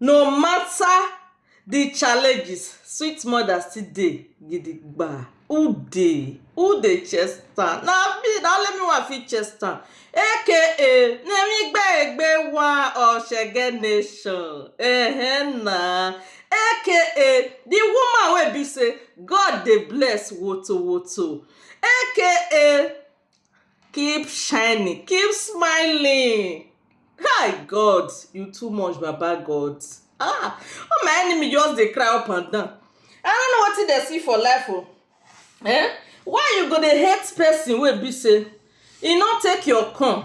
No matter the challenges, sweet mother still dey gidigba. Who dey? Who dey chest am? Na me, na only me wey I fit chest am. Aka Nemi-igbe-egbe one of Shege nation. Ehen na. Aka the woman wey be sey God dey bless wotowoto. Aka keep shining keep smiling kai god you too much baba god ah all my enemy just dey cry up and down i don't know wetin dem see for life o eh why you go dey hate person wey be say e no take your corn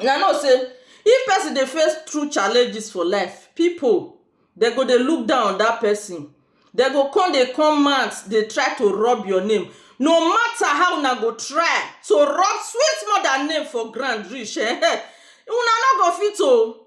Una know sey if person dey face through challenges for life, people dem go dey look down on that person. Dem go come dey come mouth dey try to rub your name. No matter how una go try to rub sweet mother name for ground reach um una no go fit oh.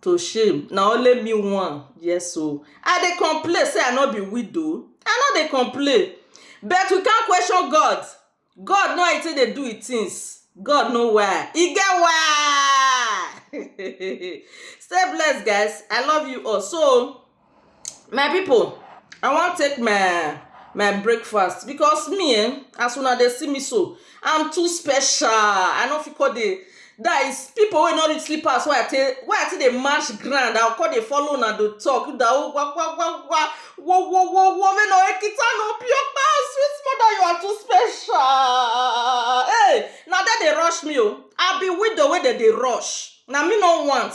to shame na only me one yes o i dey complain say i no be widow i no dey complain but we come question God God know how he take dey do him things God know why he get why stay blessed guys i love you all so My pipu I wan take my my breakfast because me um as una dey see me so I'm too special I no fit come dey dat is pipu wey no reach slippers wey I take wey I take dey match ground I go come dey follow una dey talk you know wa wa wa wa wo wo wo wo me no ekita no pioba sweet mother you are too special hey na dem dey rush me oo I be widow wey dem dey rush na me no want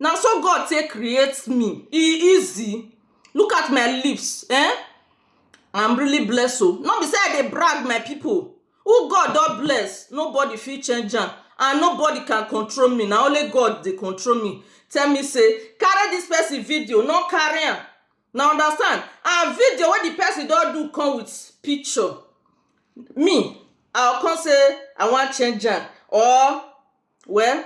Na so God take create me, e easy Look at my lips eh I'm really blessed oh No be say I dey brag my people Who God don bless, nobody fit change am And nobody can control me, na only God dey control me Tell me say, carry this person video, no carry am Una understand, and video wey the person don do come with picture Me, I go come say I wan change am or well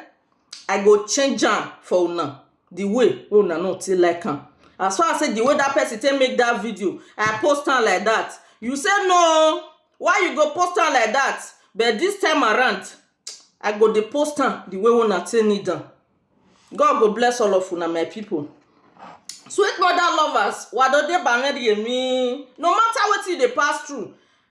I go change am for una the way wey una no take like am as far as say the way that person take make that video I post am like that you say no why you go post am like that but this time around I go dey post am the way una take need am God go bless all of una my people sweet mother lovers wadode baned yemi no matter wetin you dey pass through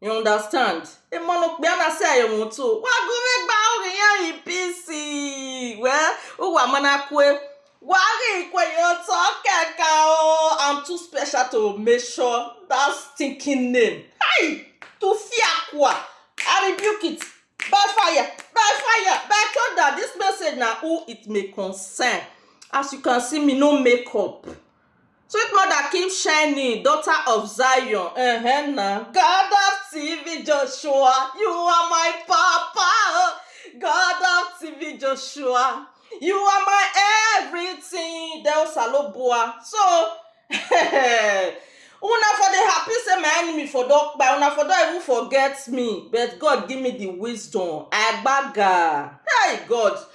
You understand? E ma no pe ana se ayo mo to. Wa go me gba o re yan i pisi. We o wa mana kwe. Wa re kwe yo to keka o. I'm too special to measure that stinking name. Hey, to fear kwa. I rebuke it. By fire, by fire, by thunder. This message now who it may concern. As you can see me no make up. Sweet mother keep shining, daughter of Zion, eh na. God of TV Joshua, you are my papa, oh. God of TV Joshua, you are my everything. Del Salobua. So, una for dey happy say my enemy for don kpai, una for don even forget me, but God give me the wisdom. Agbaga. Hey God,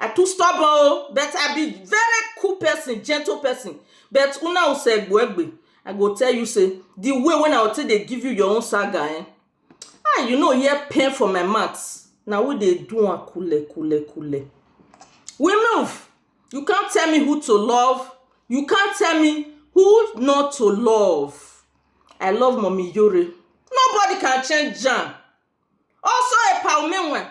I too stubborn o but I be very cool person, gentle person but una Osegbuegbe I go tell you say the way wey I take dey give you your own saga eh ah you no hear pain for my mouth na we dey do am kule kule kule. We move you can't tell me who to love you can't tell me who not to love I love Mummy Yore nobody can change am also Epa Omenwe